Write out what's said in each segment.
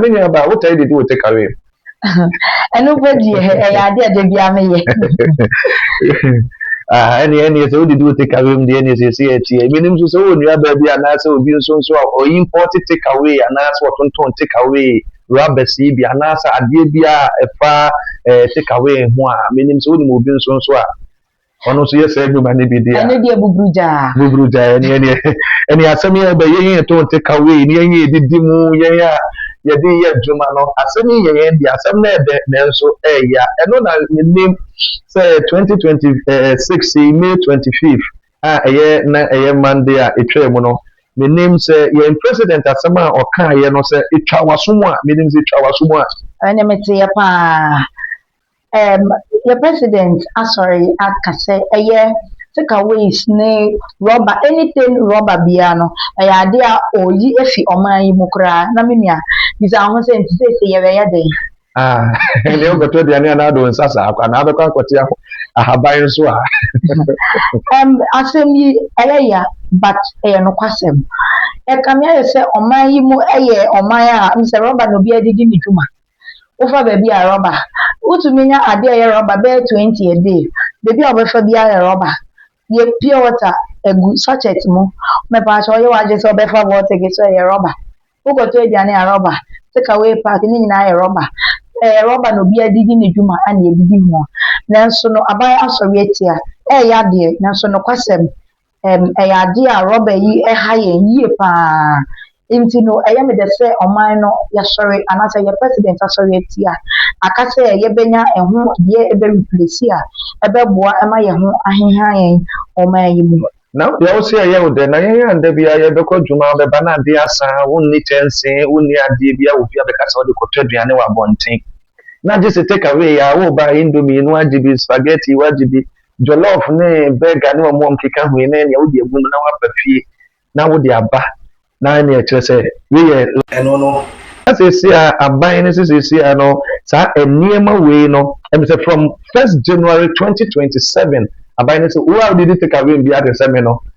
Me nua ba, wotaa didi wɔ take away mu? Ɛno bɛ di yɛ, ɛyɛ adeɛ ɛdɛ bi ame yɛ. Ɛne ɛne sɛ wodidi wɔ take away mu deɛ ɛne sɛ ɛsi ɛti ɛ. Menim nso sɛ wɔ nua baa bi anaasɛ obi nso nso a ɔyi import take away anaasɛ ɔtontɔn take away rubber si bi anaasɛ adeɛ bi a ɛfa ɛɛ take away ho a menim sɛ wonim obi nso nso a ɔno nso yɛ saa nnwuma no bi deɛ a. ɛno deɛ buburu gyaa. buburu gyaa ɛne ɛne ɛne asɛm yɛ bɛ yɛn yɛn to nte ka wei ne yɛn yɛ didi mu yɛn a yɛde yɛ adwuma no asɛm yi yɛ yɛn deɛ asɛm no ɛdɛ nanso ɛya ɛno na menim sɛ 2026 yi may 25 a ɛyɛ na ɛyɛ monday a ɛtwaa mu no menim sɛ yɛn president asɛm a ɔkaeɛ no sɛ ɛtwa waso mu a menim sɛ ɛtwa waso mu a ɛne meteɛ paa Ɛɛm, yɛ president asɔre aka sɛ ɛyɛ take aways ne rubber, anything rubber biara no, ɛyɛ adeɛ a ɔreyi afi ɔman yi mu koraa. Na me nua, bisa wo ho sɛ nti seesei yɛbɛyɛ dɛn? Ah, ɛnneɛ wokɔtɔ aduane anaa wode wo nsa saa kwa, anaa wobɛkɔ akɔte aho, ahaban nso a? Ɛɛm, asɛm yi, ɛyɛ ya, but ɛyɛ nokwasɛm. Ɛkame ayɛ sɛ ɔman yi mu yɛ ɔman a, wonim sɛ rubber na obiara de di ne dwuma. Wofa baabi a, rɔba. Wotumi nya adeɛ a ɛyɛ rɔba bɛyɛ twenty a day. Baabi a wobɛfa biara yɛ rɔba. Yɛ pure water gu sachet mu. Mepaakyɛw yɛ w'adwene sɛ wobɛfa vortic nso a, ɛyɛ rɔba. Wokɔtɔ aduane a, rɔba. Take away pack ne nyinaa yɛ rɔba. Ɛyɛ rɔba na obiara de di ne dwuma a na yɛde di ho. Nanso no, aban asɔre atia. Ɛreyɛ adeɛ, nanso nokwasɛm. ɛm, ɛyɛ adeɛ a rɔba yi ha yɛn yie pa ara. Nti no, ɛyɛ me dɛ sɛ ɔman no yɛasɔre anaasɛ yɛn president asɔre atia. Aka sɛ yɛbɛnya ɛho deɛ ɛbɛ replace a ɛbɛboa ma yɛn ho aheha yɛn wɔ ɔman yi mu. Na wo deɛ wo se ɛyɛ wo dɛ, na yɛn a da biara yɛbɛkɔ adwuma, wobɛba na adeɛ asa, wonni kyɛnsee, wonni adeɛ biara wɔ fie a bɛka sɛ wode kɔtɔ aduane wɔ abɔnten. Na gyese take away a, woreba a indomie no woagye bi, spaghetti woagye bi, jollof ne burger ne wɔn wɔn keka ho yi ne nea wode agu mu na waba fie na wode aba na ɛne ɛkyerɛ sɛ wei yɛ ɛno no na sɛsi a aban no sɛ sɛsi a no saa nneɛma wei no ɛmi sɛ from first January twenty twenty seven aban no sɛ wo a wode di take away bi adesɛme no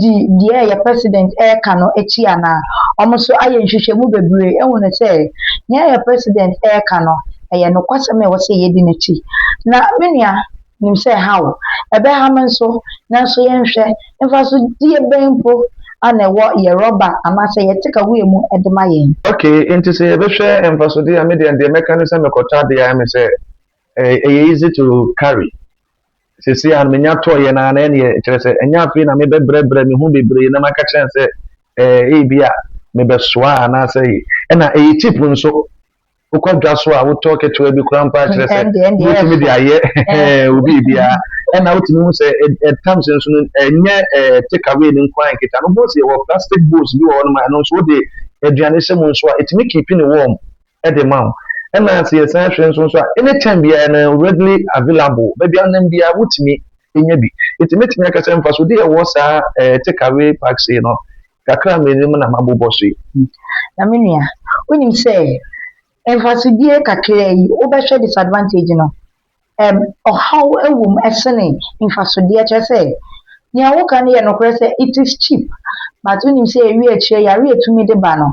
di deɛ yɛ president ɛka no akyi anaa wɔn nso ayɛ nhwehwɛmu bebree ahunu sɛ deɛ yɛ president ɛka no ɛyɛ nokwasɛm a ɛwɔ sɛ yɛdi n'akyi na me nua nim sɛ ɛha wo ɛbɛha me nso nanso yɛnhwɛ mfasodie bɛn mpo ana ɛwɔ yɛ rɔba anaasɛ yɛ tekaweɛ mu ɛde ma yɛn. Ok nti sɛ yɛbɛhwɛ mfasodeɛ a me deɛ deɛ mɛka ne sɛ mekɔtɔ adeɛ a ɛyɛ me sɛ ɛyɛ easy to carry Seesei a manya tɔeɛ no ara na ɛneɛ kyerɛ sɛ ɛnyɛ afei na mebɛbrɛbrɛ me ho bebree na maka kyerɛ no sɛ eh, ebi a mebɛsoa anaasɛ yi. Ɛna ɛyɛ cheap nso. Wokɔ dwa so a wotɔ ketewa bi koraa mpo a kyerɛ sɛ Ɛndeɛ, ɛndeɛ wobɛtumi de ɛfa. ayɛ Eh. wo biribiara. Ɛna wotumi hu sɛ ɛ- ɛ- tam sɛ nso no ɛnyɛ eh, take away no nko ara nkita no. Bowls yɛwɔ plastic bowls bi wɔ hɔnom a ɛno nso wode aduane hyɛ mu nso a ɛtumi keepi no warm. de ma wo. Ɛna sɛ yɛsan hwɛ nso nso a, anytime biara no readily available, baabi a wonam biara wotumi nya bi. Nti mɛtumi aka sɛ mfasodeɛ a ɛwɔ saa eh, take away packs yi no, kakra mmienu mu na mabobɔ so yi. Hmm. Na me nua, wonim sɛ mfasodeɛ kakra yi, wobɛhwɛ disadvantage no, ɛm, ɔhaw wom sene mfasodeɛ, kyerɛ sɛ, nea woka no yɛ nokorɛ sɛ, it is cheap, but wonim sɛ ɛwi akyire yare a ɛtumi de ba no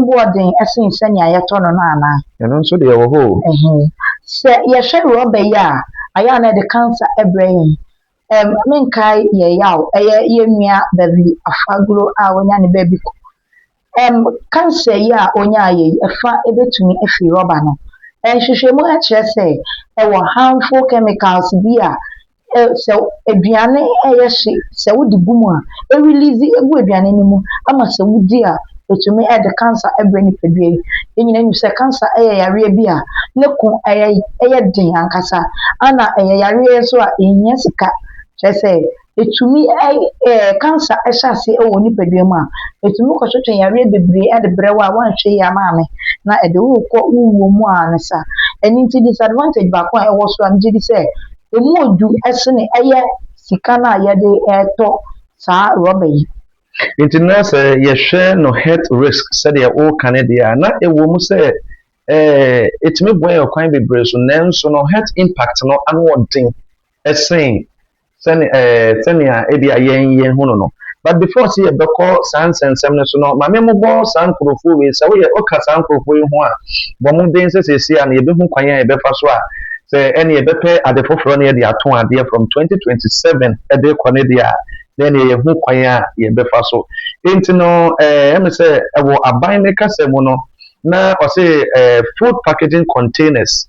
boɔ den sene sɛnea yɛtɔ no no anaa? Ɛno nso deɛ ɛwɔ hɔ o. Ɛhe? Sɛ yɛhwɛ rɔba yi a, ayɛ a na ɛde cancer brɛ yɛn, ɛm, menkae yɛn yaw, ɛyɛ yɛn nua Beverly Afaguro a wanya ne baabi kɔ, Ɛm, kansa yi a ɔnyaeɛ yi, ɛfa bɛtumi afiri rɔba no. Nhwehwɛmu kyerɛ sɛ ɛwɔ harmful chemicals bi a ɛ, sɛ aduane ɛyɛ hye, sɛ wode gu mu a, ɛrelease gu aduane no mu ama sɛ wodi a, ɛtumi de kansa brɛ nipadua yi. Yɛn nyinaa nim sɛ kansa yɛ yareɛ bi a ne ko ɛyɛ, ɛyɛ den ankasa. Ɛna ɛyɛ yareɛ nso a ɛhia sika, kyerɛ sɛ ɛtumi ɛɛ cancer hyɛ aseɛ wɔ wo nipadua mu a, ɛtumi kɔ so twe yareɛ bebree de brɛ wo a woanhwɛ yie ama ame na ɛde wo rekɔ wo wuo mu ara ne saa. Ɛno nti disadvantage baako a ɛwɔ so a megye di sɛ ɛmu yɛ duru sene ɛyɛ sika no a yɛde retɔ saa rɔba yi. Nti na sɛ yɛhwɛ no health risk sɛdeɛ woka no deɛ a, na ɛwɔ mu sɛ ɛɛ ɛtumi boa yɛn kwan bebree so nanso no health impact no ano ɔden ɛsen Sɛne ɛɛ sɛnea ebia yɛn yɛn hu no no. But before sɛ yɛbɛkɔ saa nsɛnsɛm no so no, maame mo bɔ saa nkurɔfoɔ wei. Sɛ woyɛ woka saa nkurɔfoɔ yi ho a, bɔ mmɔden sɛ sɛsɛ a no yɛbɛhu kwan a yɛbɛfa so a sɛ ɛne yɛbɛpɛ ade foforɔ ne yɛde ato adeɛ from 2027 ɛde kɔ ne deɛ a na ɛne yɛhu kwan a yɛbɛfa so. Enti no ɛɛ ɛmi sɛ ɛwɔ aban ne kasa mu no na ɔse ɛɛ food packaging containers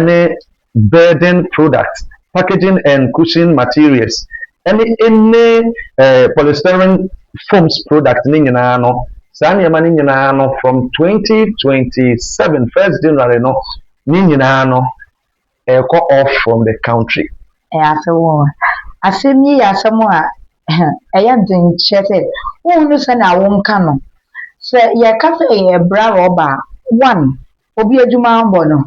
ne building products, packaging and cushion materials, ne any eh, polystyrene foams products ne nyinaa no, saa nneɛma no nyinaa no from 2027 first January no ne nyinaa no ɛrekɔ off from the country. Ɛyɛ asɛm o. Asɛm yi yɛ asɛm a ɛyɛ den kyerɛ sɛ wonhu no sɛnea wonka no. Sɛ yɛka sɛ yɛbra rɔba a, one, obi adwuma abɔ no.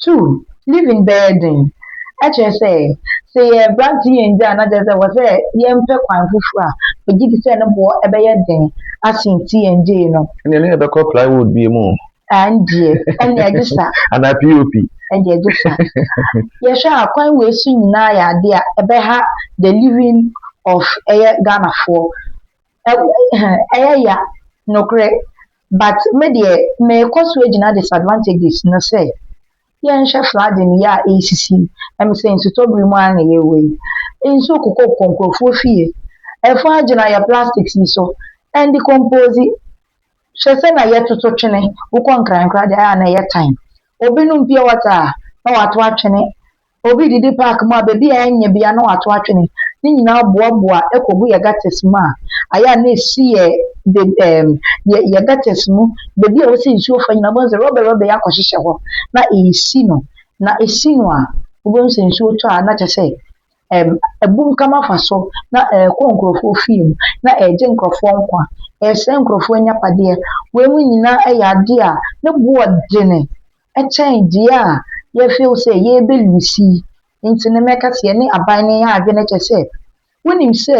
Two, living bɛyɛ den. Ɛkyerɛ sɛ, sɛ yɛ aberante yɛ nnya a na kyerɛ sɛ ɛwɔ sɛ yɛmpɛ kwan foforɔ a, megye di sɛ ne boɔ bɛyɛ den asen ti yɛn gyee no. Ɛnneɛ ne yɛbɛkɔ plywood bie mu o. Ɛndeɛ, ɛnneɛ ɛgye sa. Anaa POP. Ɛndeɛ ɛgye sa. Yɛhwɛ a kwan wei so nyinaa yɛ adeɛ a ɛbɛha the living of ɛyɛ Ghanafoɔ. Ɛyɛ ya nokorɛ But me deɛ mekɔ so agyina disadvantages no sɛ yɛnhwɛ flooding yi a ɛresisi yi, ɛm sɛ nsutɔ bere mu ara na yɛwɔ yi. Nsuo kokɔkokɔ nkurɔfoɔ fie, ɛfɔn agyina yɛ plastics yi so ɛndecompose. Hwɛ sɛ na yɛtoto twene, wokɔ Nkrankra deɛ ayɛ a na ɛyɛ time. Obi nom pure water a na wato atwene Obi didi park mu a baabi a ɛnyɛ bia na wato atwene ne nyinaa boaboa kɔgu yɛ gutters mu a ayɛ a na ɛsi yɛ ɛɛm yɛ yɛ gutters mu baabi a wɔsi nsuo fa nyinaa wobɛhu sɛ rɔba rɔba yi akɔhyehyɛ hɔ na ɛresi no na ɛsi no a wobɛhu sɛ nsuo tɔ a na kyɛ sɛ ɛɛm abum kam afa so na ɛrekɔ nkurɔfoɔ fie mu na ɛregye nkurɔfoɔ nkwa ɛresɛe nkurɔfoɔ anyapadeɛ wei mu nyinaa yɛ adeɛ a ne boɔ dene kyɛn deɛ a yɛ feel sɛ yɛbɛ lose yi nti no mɛka sɛ yɛne aban no yɛ adwene kyɛ sɛ wonim sɛ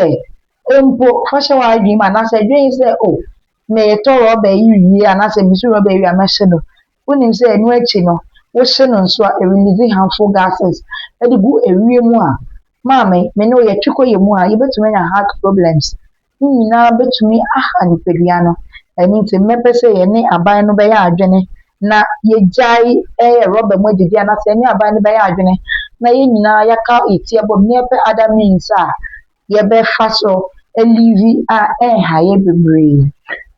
mpo fa hyɛ w'adwene mu anaasɛ dwen sɛ oh metɔ rɔba yi wie anaasɛ mesu rɔba yi wie a mɛhye no wonim sɛ ɛno akyi no wohye no nso a ɛrelease harmful gases ɛde gu ɛwie mu a maame me ne wo yɛtwe kɔ yɛ mu a yɛbɛtumi anya heart problems ne nyinaa bɛtumi aha nipadua no. Ɛno nti, mmɛpɛ sɛ yɛne aban no bɛyɛ adwene na yɛgyae yɛ rɔba mu adidi anaasɛ yɛne aban no bɛyɛ adwene na yɛn nyinaa yɛaka yɛ ti abom na yɛpɛ other means a yɛbɛfa so aliivi a ɛnha yɛn bebree.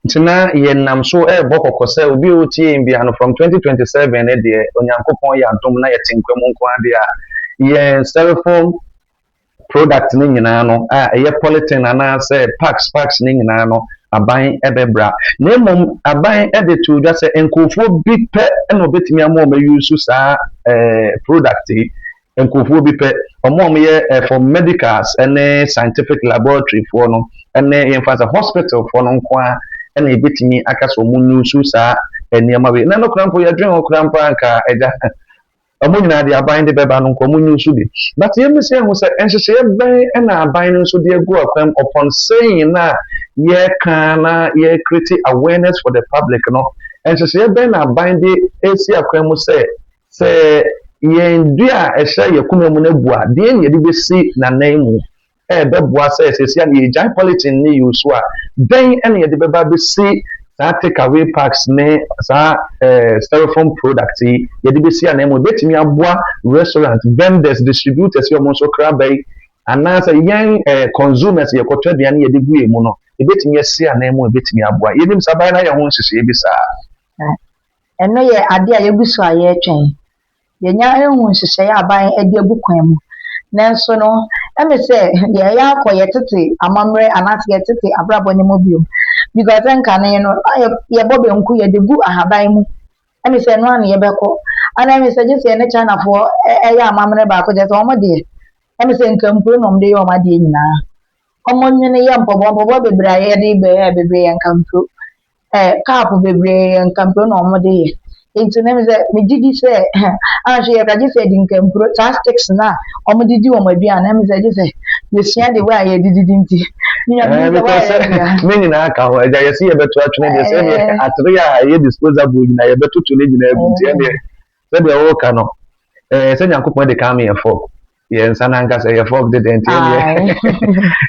Nti na yɛnam so rebɔ kɔkɔ sɛ obi a ɔretie yɛn biara no, from twenty twenty seven no deɛ, Onyankopɔn yɛ adom na yɛte nkwa mu nko ara deɛ a, yɛn cellphone, product no nyinaa no, a ɛyɛ polythene anaasɛ packs packs no nyinaa no, aban bɛbra. Na mmom aban de too dwa sɛ nkurɔfoɔ bi pɛ na wɔbɛtumi ama wɔn ayusu saa eh, product yi. Nkurɔfoɔ bi pɛ, wɔn a wɔyɛ eh, for medicals ne scientific laboratory foɔ no, ne yɛmfa sɛ hospital foɔ no nko ara na ɛbɛtumi aka sɛ wɔn nyusu saa eh, nneɛma wei. Na no koraa mpo yɛdwen ho koraa mpo anka agya. Wɔn nyinaa deɛ aban de bɛba no nka wɔn nyi nso bi. But yɛn mi sɛ ehu sɛ nhyehyɛeɛ bɛn ɛna aban no nso de agu akwan mu upon saying na yɛka na yɛ create awareness for the public no. Nhyehyɛeɛ bɛn na aban de esi akwan mu sɛ sɛ yɛn dua a ɛhyɛ yɛn koma mu no abu a deɛ na yɛde bɛsi n'anan mu ɛrebɛboa sɛ seesei a yɛregyae polythene ne use so a, dɛn na yɛde bɛba abɛsi saa take away packs ne saa eh, styrofoam product yi yɛde bɛsi anaa mu ɛbɛtumi aboa restaurant vendors distributors yɛ wɔn nso kraba yi anaasɛ yɛn eh, consumers yɛkɔtɔ aduane yɛde gu yɛn mu no ɛbɛtumi asi anaa mu ɛbɛtumi aboa yɛnim saa baeɛ no ayɛ ho nhyehyɛeɛ bi saa ɛno yɛ adeɛ a yɛgu so a yɛretwɛn yɛanya ahu nhyehyɛe a aban de agu kwan mu. Nanso no, ɛmɛ sɛ yɛyɛ akɔ yɛ tete amammerɛ anaasɛ yɛ tete abrabɔ no mu bio. Because nkane no, a yɛbɔ banku yɛde gu ahaban mu. Ɛmɛ sɛ ɛno ara na yɛbɛkɔ. Ana ɛmɛ sɛ gye sɛ yɛne Chinafoɔ yɛ amammerɛ baako kyɛ sɛ wɔn deɛ. Ɛmɛ sɛ nkampuro na wɔde yɛ wɔn adeɛ nyinaa. Wɔn nwene yɛ mpɔboa mpɔboa bebree a yɛde bɛyɛ bebree yɛ nkampuro. eh, cup bebree yɛ nkampire na wɔde yɛ nti no sɛ megye di sɛ anhwɛ yɛ ka gye sɛ yɛde nkampire saa sticks no a wɔde di wɔn aduane na ɛmi sɛ gye sɛ yɛsua de wɔ a yɛde didi nti eh, because eh, ne nyinaa ka ho agya yɛsi yɛbɛto atwene deɛ sɛ ɛneɛ eh. atere a ɛyɛ disposable nyinaa yɛbɛtoto ne nyinaa gu nti ɛneɛ Sɛdeɛ woreka no, ɛɛ sɛ Nyankopɔn de kame yɛ fɔk, yɛ nsa n'ankasa yɛ fɔk de dɛn nti ɛneɛ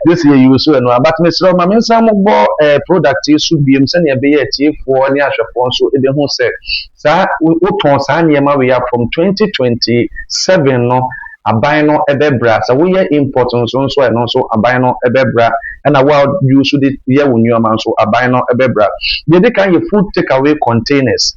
yɛsi yɛ yiwu so ɛno a, but mesrɛ ma me nsa mo bɔ ɛɛ product yi so biem sɛdeɛ ɛbɛyɛ atiefoɔ ne ahwɛfoɔ nso ɛbɛhu sɛ saa wotɔn saa nneɛma wei a from 2027 no aban no ɛbɛbra sɛ woyɛ import nso nso ɛno nso aban no ɛbɛbra ɛna wo a use de yɛ wo nneɛma nso aban no ɛbɛbra deɛ ɛdi kan yɛ food takeaway containers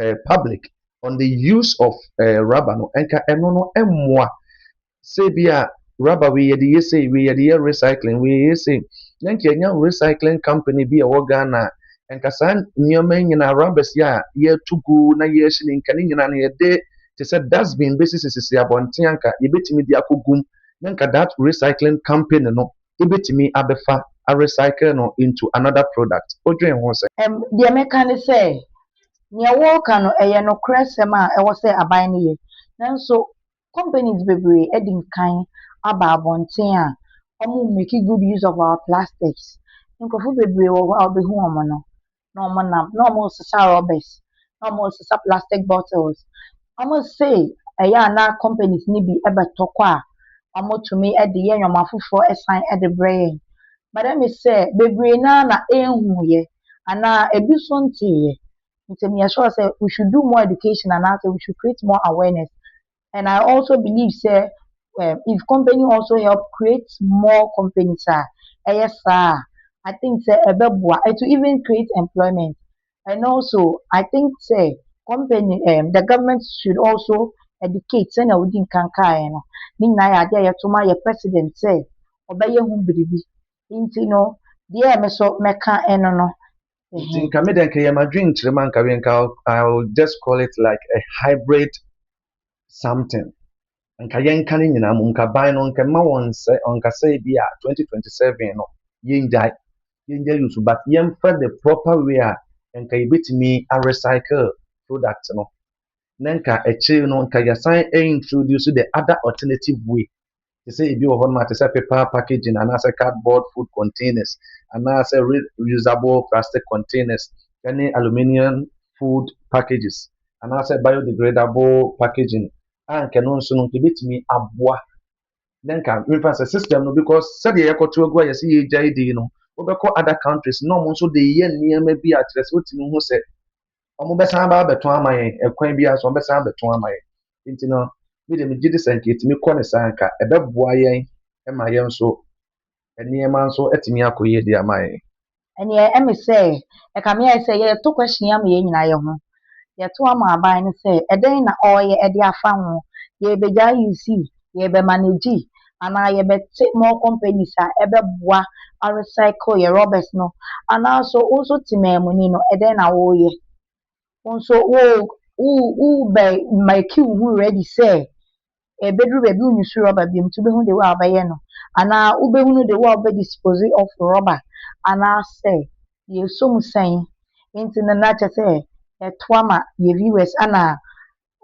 eh, public on the use of eh, rubber no nka ɛno no mmoa sɛ bi a rubber wei yɛde yɛ sei wei yɛde yɛ recycling wei yɛ sei na nka ɛnya recycling company bi a ɛwɔ ghana a nka saa nneɛma nyinaa rubbers yi a yɛtu gu na yɛhye ne nka ne nyinaa no yɛde te sɛ dustbin bɛsisisisi abɔnten anka yɛbɛtumi de akɔgum na nka that recycling company no ebetumi abɛfa arecycle no into another product. Wodwen ho sɛn? Ɛm, deɛ mɛka ne sɛ, deɛ woreka no, ɛyɛ nokorɛsɛm a ɛwɔ sɛ aban no yɛ. Nanso companies bebree adi nkan aba abɔnten a wɔremake good use of our plastics. Nkurɔfo bebree wɔ hɔ a wobɛhu wɔn no, na ɔmo nam na ɔmo sesa rɔbɛs na ɔmo sesa plastik bɔtils ɔmo se ɛyɛ a na kɔmpanis no bi bɛtɔ kɔ a ɔmo tumi de yɛ nnoɔma foforɔ ɛsan de brɛ yɛn but ɛmi sɛ bebree naa na enhuu yɛ anaa ebi nso ntee yɛ nti meyɛ sure sɛ we should do more education anaa sɛ we should create more awareness and I also believe sɛ um if company also help create more companies a, ɛyɛ saa a, I think sɛ ɛbɛboa, it will even create employment and also I think sɛ company um the government should also educate sɛnea wodi nkan kaeɛ no, ne nyinaa yɛ adeɛ a yɛto ma yɛn president sɛ ɔbɛyɛ ho biribi. Nti no deɛ me nso mɛka ɛno no. nti nka me dɛ nka yɛ m'adwenkyerɛ mu anka wei nka I will just call it like a hybrid something nka yɛnka ne nyinaa mu nka ban no nka mma wɔn nsɛ ɔnkasa bi a 2027 no yɛngyae yɛngyae yusu but yɛmfa the proper way a nka yɛbɛtumi a recycle product no na nka akyire no nka yɛsan introduce the other alternative way te sɛ ebi wɔ hɔnom a, te sɛ paper packaging anaasɛ cardboard food containers anaasɛ reusable plastic containers ne aluminium food packages anaasɛ biodegradable packaging a nka ɛno nso no nka ebetumi aboa na nka mefa sɛ system no because sɛdeɛ yɛkɔto agu a yɛsɛ yɛgyae di no wobɛkɔ other countries na wɔn nso de yɛ nneɛma bi a kyerɛ sɛ wotumi ho sɛ wɔbɛsan aba abɛtɔn ama yɛn ɛkwan bi ara so wɔbɛsan abɛtɔn ama yɛn nti no me deɛ megye di sɛ nka yɛtumi kɔ ne saa nka ɛbɛboa yɛn ma yɛn nso nneɛma nso atumi akɔ yie de ama yɛn. ɛneɛ ɛme sɛ ɛka me ayɛ sɛ yɛto question yi ama yɛn nyinaa yɛ ho yɛto ama aban no sɛ ɛdɛn na ɔreyɛ ɛde afa ho yɛbɛgyae you see yɛbɛma no edzi anaa yɛbɛtse more companies a ɛbɛboa arecycle yɛ rɔbɛs no? Anaa so wo so tsemaamuni no, dɛn na woreyɛ? Wo so worobɛmake woho ready sɛ ebedur beebi a wonnyi so rɔba biom ntsi ibohu the way a wɔbɛyɛ no anaa wobehunu the way a wɔbɛ dispose of rɔba anaa sɛ yɛsɔ mu sɛn? Ntsi no na kyerɛ sɛ yɛtoa ma yɛ viewers ana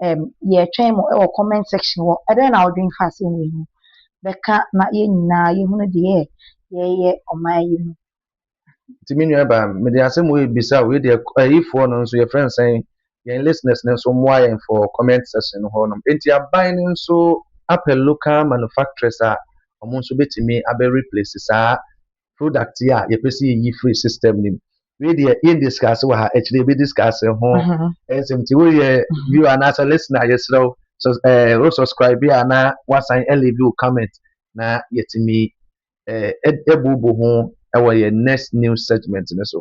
ɛɛm yɛtwɛn mo wɔ comment section hɔ. Ɛdɛn na wodwen fa asɛm wei ho? Bɛka na yɛn nyinaa yɛhunu deɛ yɛreyɛ ɔman yi mu. Nti me nua baa mede asɛm wei bisa wo, yɛdeɛ ayifoɔ no nso yɛfrɛ no sɛn? Yɛn listeners no nso mmoa yɛn for comment section no hɔ nom. Nti aban no nso apɛ local manufacturers a wɔn nso bɛtumi abɛ replace saa product yi a yɛpɛ sɛ yɛyi firi system no mu wei deɛ yɛn discuss wɔ ha akyire yɛbɛ discuss ho mhm. nsɛm nti woyɛ mhm. view anaasɛ listener yɛsrɛ wo so ɛɛ eh, wo subscribe a na wasan ɛlevi wo comment na yɛtumi ɛɛ eh, ɛbubu ho ɛwɔ yɛn next news segment no so.